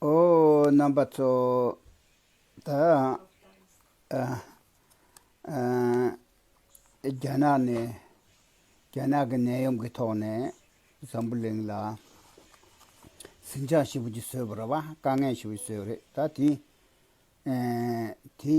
ཨོ་རྣམ་པ་ཚོ་རྒྱ་ནག་ནས་རྒྱ་ནག་གི་ནད་ཡམས་ཀྱི་ཐོག་ནས་འཛམ་བུ་གླིང་ལ་ཟིང་ཆ་ཞིག་པོ་ཅིག་བཟོས་པ་རེད་བ་དཀའ་ངལ་ཞིག་པོ་ཅིག་བཟོས་པ་རེད་ད་དེ་དེ་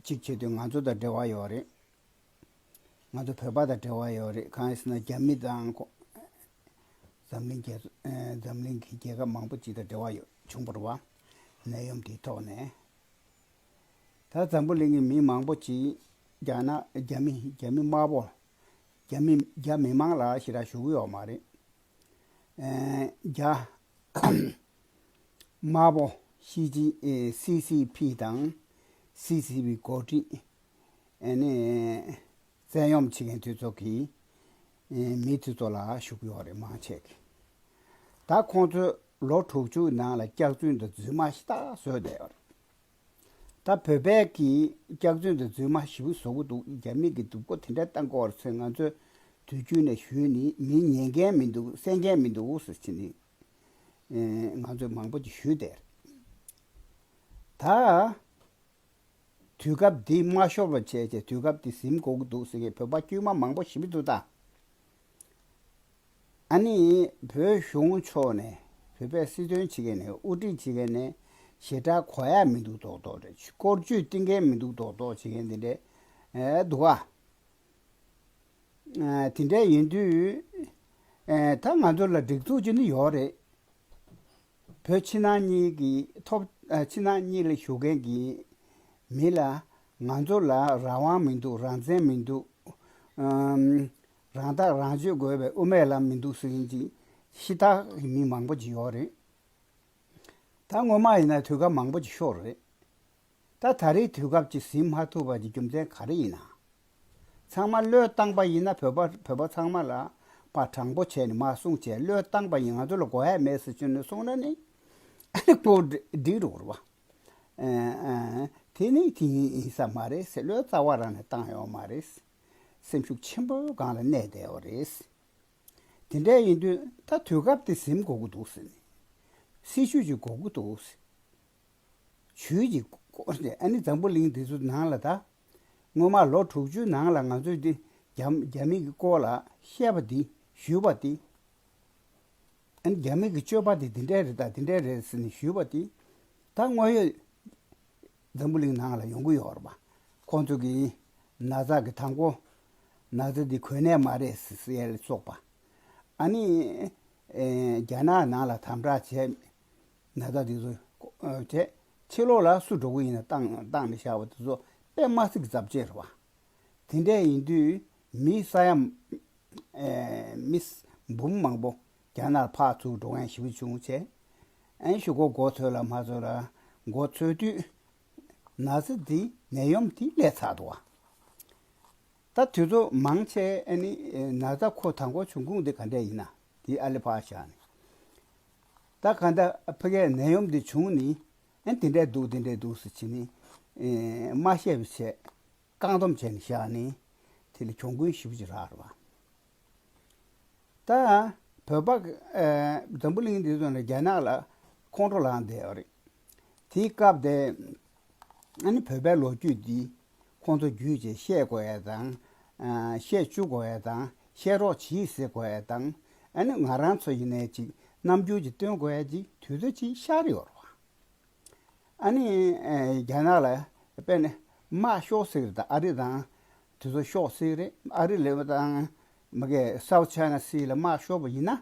གཅིག་བྱས་དུས་ང་ཚོ་དང་འབྲེལ་བ་ཡོད་རེད། ང་ཚོ་བོད་པ་དང་འབྲེལ་བ་ཡོད་རེད་གང་ཡིན་ཟེར་ན་རྒྱ་མི་དང། འཛམ་གླིང་གི་རྒྱལ་ཁབ་མང་པོ་ཅིག་དང་འབྲེལ་བ་ཡོད་བྱུང་བར་བ། ནད་ཡོམ་དེའི་ཐོག་ནས། ད་འཛམ་བུ་གླིང་གི་མི་མང་པོ་ཅིག་རྒྱ་ནག་རྒྱ་མི་རྒྱ་མི་དམར་པོ། རྒྱ་མི་རྒྱ་མི་དམངས་ལ་ཞི་རག་ཞུ་གི་ཡོད་མ་རེད། རྒྱ། དམར་པོ་ཤི་ཅི་སི་སི་ཕི་དང། སི་སི་པི་འགོ་ཁྲིད། ནས། བཙན་ཡོམ་བྱེད་མཁན་དེ་ཚོ་གིས། མི་དེ་ཚོ་ལ་ཞུགས་ཡོད་རེད་མང་ཆེ་གེ། ད་ཁོང་ཚོས་ལོ་དྲུག་ཅུ་ནང་ལ་སྐྱག་རྫུན་དང་རྫུན་མ་ཞེ་ཐག་བཟོས་བསྡད་ཡོད་རེད། ད་བོད་པས་ཀྱི་སྐྱག་རྫུན་དང་རྫུན་མ་བཞི་བོ་བཟོ་གི་འདུག་རྒྱ་མི་གི་སྡུག་པོ་དེ་འདྲ་ལྟ་འགོ་བར་ཚོས་ང་ཚོས་དུས་རྒྱུན་ནས་ཞུས་ནི་མི་ཉན་མཁན་མི་འདུག་བསད་མཁན་མི་འདུག་ཟེར་ཚེ་ནི། ང་ཚོས་མང་པོ་ཅིག་ཞུས་བསྡད་རེད། ད། དུས་སྐབས་འདི་མ་ཤོར་བ་བྱས་ཏེ་དུས་སྐབས་འདི་གཟིམ་དགོས་ཀྱི་འདུག་ཟེར་མཁན་བོད་པ་དཀྱུས་མ་མང་པོ་ཞི་བི་དུ་ད་ཨ་ནི་བོད་གཞུང་ཕྱོགས་ནས་བོད་པའི་སྲིད་དོན་བྱེད་མཁན་ནས་དབུ་ཁྲིད་བྱེད་མཁན་ནས་ཞེ་དྲག་གོ་ཡ་མི་འདུག་དོག་དོག་རེད་སྐོར་བརྗོད་གཏིང་མཁན་མི་འདུག་དོག་དོག་བྱེད་མཁན་དེ་འདྲས་འདུག་ག་དེ་འདྲས་ཡིན་དུས་ད་ང་ཚོ་ལ་སྒྲིག་འཛུགས་ཅི་འདི་ཡོད་རེད། བོད་ཕྱི་ནང་གཉིས་ཀྱི་ཐོབ། ཕྱི་ནང་གཉིས་ལ་བཞུགས་མཁན་གྱི་མི་ལ། ང་ཚོ་ལ་རང་དབང་མི་འདུག་རང་བཙན་མི་འདུག། རང་ཐག་རང་གཅོད་དགོས་པའི་དབུ་མའི་ལམ་མི་འདུག་ཟེར་བཞིན་ཅིག་ཤི་རྟ་གི་མི་མང་པོ་ཅིག་ཡོད་རེད། ད་སྔོན་མ་ཡིན་ན་དུས་སྐབས་མང་པོ་ཅིག་ཤོར་རེད། ད་ད་རེའི་དུས་སྐབས་ཀྱི་ཟིན་མ་ཐུབ་པ་ཀྱི་རྒྱུ་མཚན་ག་རེ་ཡིན་ན། ཚང་མ་བློས་བཏང་པ་ཡིན་ན་བོད་པ་བོད་པ་ཚང་མ་ལ་པ་དྲང་པོ་བྱས་ནས་མ་གསུངས་བྱས་བློས་བཏང་པ་ཡིན་ང་ཚོ་ལ་གོ་ཧད་མེད་ཟེར་ཅུ་ནི་གསུངས་ན་ནི་ཀོ་བསྒྲིགས་རོགས་རེད་བ། དེ་ནི་དེ་ཡིན་ས་མ་རེད་ཟེར་བློའི་རྩ་བ་རང་ནས་བཏང་ཡོད་མ་རེད། སེམས་ཤུགས་ཆེན་པོའི་སྒང་ལ་གནས་བསྡད་ཡོད་རེད། དེ་འདྲ་ཡིན་དུས་ད་དུས་སྐབས་དེ་གཟིམ་གོ་གི་འདུག་ཟེར་ནས་སྲིད་བྱུས་ཀྱི་གོ་གི་འདུག་ཟེར། བྱུས་ཀྱི་གོ་ཨ་ནི་འཛམ་བུ་གླིང་འདི་ཚོ་ནང་ལ་ད་སྔོན་མ་ལོ་དྲུག་ཅུའི་ནང་ལ་ང་ཚོས་འདི་རྒྱ་མིག་གི་སྐོར་ལ་བཤད་པ་འདི་ཞུས་པ་དེ། ཨ་ནི་རྒྱ་མིག་གི་སྤྱོད་པ་འདི་འདི་འདྲས་རེད་ད་འདི་འདྲས་རེད་ཟེར་ནས་ཞུས་པ་དེ། ད་དངོས་ཡོད་འཛམ་བུ་གླིང་ནང་ལ་ཡོང་གི་ཡོད་རེད་པ། ཁོང་ཚོ་གིས་ན་བཟའ་གི་དང་པོ་ན་བཟའ་འདི་གོས་ནད་མ་རེད་ཟེར་ལ་སོགས་པ། ཨ་ནི་རྒྱ་ནག་ནང་ལ་དམ་དྲག་བྱས་ན་བཟའ་འདི་ཚོ་བྱས། ཕྱི་ལོགས་ལ་སུ་འགྲོ་གི་ཡིན་ན་བཏང་བཏང་ནས་བཞག་པ་དེ་ཚོ་པད་མ་སིག་རྫབ་ཅེས་ར་བ། དེ་འད་ཡིན་དུས་མི་ས་ཡ་མི་འབུམ་མང་པོ་རྒྱ་ནར་ཕག་ཚུགས་འགྲོ་མཁན་ཞི་བུ་ཆུང་བྱས། ཨན་ཞུ་གོ་གོ་ཚོད་ལ་མ་ཚོད་ལ་གོ་ཚོད་དུས་ན་ཚི་དེ་ནད་ཡོམ་དེ་ལས་ཚ་འདུག་བ། ད་དུས་ཚོ་མང་ཆེ་ཨན་ནི་ན་ཚ་ཁོ་ད་གོ་ཆུང་ཁུང་དེ་ག་འད་ཡིན་ན་དེ་ཨ་ལི་ཕག་ཞག་ནི། ད་ག་འདྲ་ཕི་གའི་ནད་ཡོམ་འདི་བྱུང་ནི། ཨེ་དེ་འདྲས་འདུག་དེ་འདྲས་འདུག་ཟེར་བྱས་ནི། མ་ཤེས་པའི་ཆད། བཀག་འདོམ་བྱས་ནི་བཞག་ནི། དེ་ལ་གྱོང་གུན་ཞི་བུ་ཅི་རག་ར་བ། ད་བོད་པ། འཛམ་བུ་གླིང་འདི་ཚོ་ནི་རྒྱ་ནག་ལ་ཁོང་ཁྲོ་ལངས་བསྡད་ཡོད་རེད། དེའི་སྐབས་དེ། ཨ་ནི་བོད་པའི་ལོ་རྒྱུས་འདི་ཁོང་ཚོ་རྒྱུད་ཅེས་བཤད་དགོས་ཡས་དང། བཤད་བཅུག་དགོས་ཡས་དང་བཤད་རོགས་བྱིས་ཟེར་དགོས་ཡས་དང། ཨ་ནི་ང་རང་ཚོ་ཡིན་ནས་ཅིག་རྣམ་འགྱུར་ཅིག་སྟོན་དགོས་ཡས་ཅིག་དུས་ཚོད་ཅིག་ཤར་ཡོད་རོགས། ཨ་ནི་རྒྱ་ནག་ལ་དཔེ་ནི་མ་ཤོག་སེ་རེད་དང་ཨ་རི་དང་དུས་ཚོད་ཤོག་སེ་རེད། ཨ་རི་ལས་དང། མི་གེ South China Sea ལ་མ་ཤོག་པ་ཡིན་ན།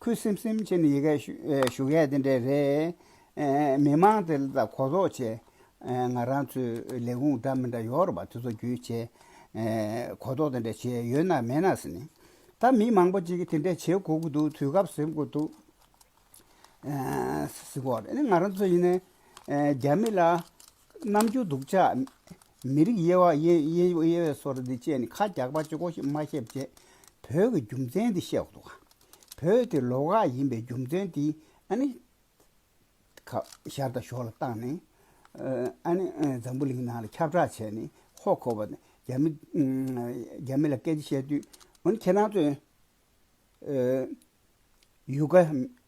ཁུ་སིམ་སིམ་བྱས་ནས་ཡི་གེ་ཞུ་མཁན་དེ་འདྲས་རེད། མི་མང་དེ་ལ་གོ་རྟོགས་བྱས། ང་རང་ཚོའི་ལས་ཁུངས་འདྲ་མི་འདྲ་ཡོད་རེད་པ་དེ་ཚོ་བརྒྱུད་བྱས། གོ་རྟོགས་དེ་འདྲས་བྱས་ཡོད་ན་མེད་ན་ཟེར་ནས། ད་མི་མང་པོ་ཅིག་གིས་དེ་འདྲས་བྱེད་དགོས་ཀྱི་འདུག་དུས་སྐབས་ཟེར་དགོས་འདུག་ཟེར། ང་རང་ཚོ་ཡིན་ན་རྒྱ་མི་ལ་རྣམ་འགྱུར་སྡུག་ཅག། མི་རིགས་དབྱེ་བ་དབྱེ་བས་སོ་ར་འདི་བཅས་ནི་ཁ་རྒྱག་པ་ཅི་གོ་ཞེས་སྨྲ་ཤེས་པ་བཅས་བོད་ཀྱི་རྒྱུ་མཚན་འདི་བཤད་འདུག་བོད་དེ་ལོག་ཁ་ཡིན་པའི་རྒྱུ་མཚན་དེ་ཨ་ནི་ཤར་དང་ཞོར་ལ་བཏང་ནས་ཨ་ནི་འཛམ་བུ་གླིང་ནང་ལ་ཁྱབ་བསྒྲགས་བྱས་ནས་ཧོ་གོ་བ་རྒྱ་མི་ལ་སྐད་ཆ་བཤད་དུས་འོ་ནི་ཁྱེད་རང་ཚོས། ཡུལ་ག་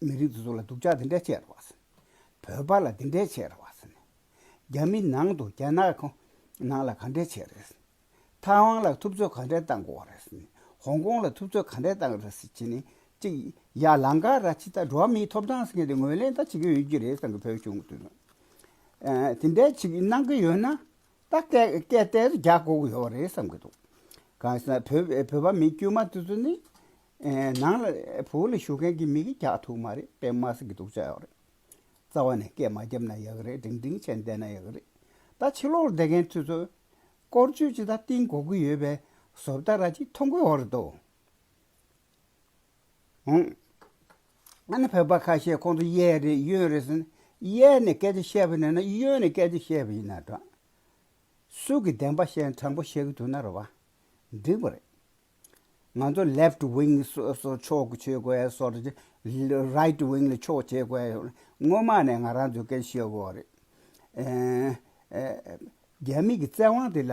མི་རིགས་དེ་ཚོ་ལ་སྡུག་ཅག་དེ་འདྲ་བྱས་ར་བ་སེ། བོད་པ་ལ་དེ་འདྲ་བྱས་ར་བ་སེ་ནས། རྒྱ་མི་ནང་དུ་རྒྱ་ནག་གི་ནང་ལ་ག་འདྲ་བྱས་ར་སེ། ཐའེ་ཝང་ལ་ཐུབ་ཚོད་ག་འདྲ་བཏང་དགོ་བ་ར་སེ་ནས། ཧོང་ཀོང་ལ་ཐུབ་ཚོད་ག་འདྲ་བཏང་ར་སེ་བྱས་ནས་ཅིག་ཡ་ལང་ཀ་ར་ཅི་ལྟར་འགྲོ་བ་མིའི་ཐོབ་ཐང་སེ་ངེ་དེ་ངོས་ལེན་ད་བྱེད་ཀྱི་ཡོད་ཀྱི་རེད་བསམ་གི་བོད་གཞུང་དེ་ཚོ། དེ་འདྲ་ཅིག་གནང་གི་ཡོད་ན། ད་སྐད་སྐད་དེར་རྒྱ་སྒོ་ཡོད་རེད་བསམ་གྱི་འདུག་གང་ཟེར་ན་བོད་བོད་པ་མི་དཀྱུས་མ་དེ་ཚོ་ནི། ནང་ལ་བོད་ལ་བཞུགས་མཁན་གྱི་མི་གིས་རྒྱག་ཐུབ་མ་རེད་པད་མ་ཟེར་གྱི་འདུག་ཅག་ཡོད་རེད། རྩ་བ་ནས་སྐད་མ་རྒྱབ་ན་ཡག་རེད་འབྲིང་འབྲིང་བྱས་བསྡད་ན་ཡག་རེད། ད་ཕྱི་ལོག་བསྡད་མཁན་ཚོས་ཚོ། སྐོར་བསྐྱོད་ཅིག་ད་གཏིང་གོ་གི་ཡོད་པས་བཟོ་བལྟ་ར་ཅིག་མཐོང་གི་ཡོད་རེད་དོ། འོང། ང་ནི་བོད་པ་ཁ་ཤས་ཁོང་ཚོ་གཡས་རེད་གཡོན་རེད་ཟེར་ན། གཡས་ནས་སྐད་ཆ་བཤད་པ་ནས་ན་གཡོན་ནས་སྐད་ཆ་བཤད་པ་ཡིན་ན་འདྲ། སུ་གི་བདེན་པ་བཤད་ན་དྲང་པོ་བཤད་ཀྱི་འདུག་ན་རེ་བ། འགྲིག་པ་རེད། ང་ཚོ left wing སོ་སོ་ཕྱོགས་ཀྱི་ཆོས་གོས་སོ་རེ་ཆེ། right wing ལ་ཕྱོགས་ཆོས་གོས་ཡོད་ན་སྔོན་མ་ནས་ང་རང་ཚོས་སྐད་ཆ་བཤད་དགོས་བ་རེད། རྒྱ་མིག་གི་བཙན་དབང་དེ་ལ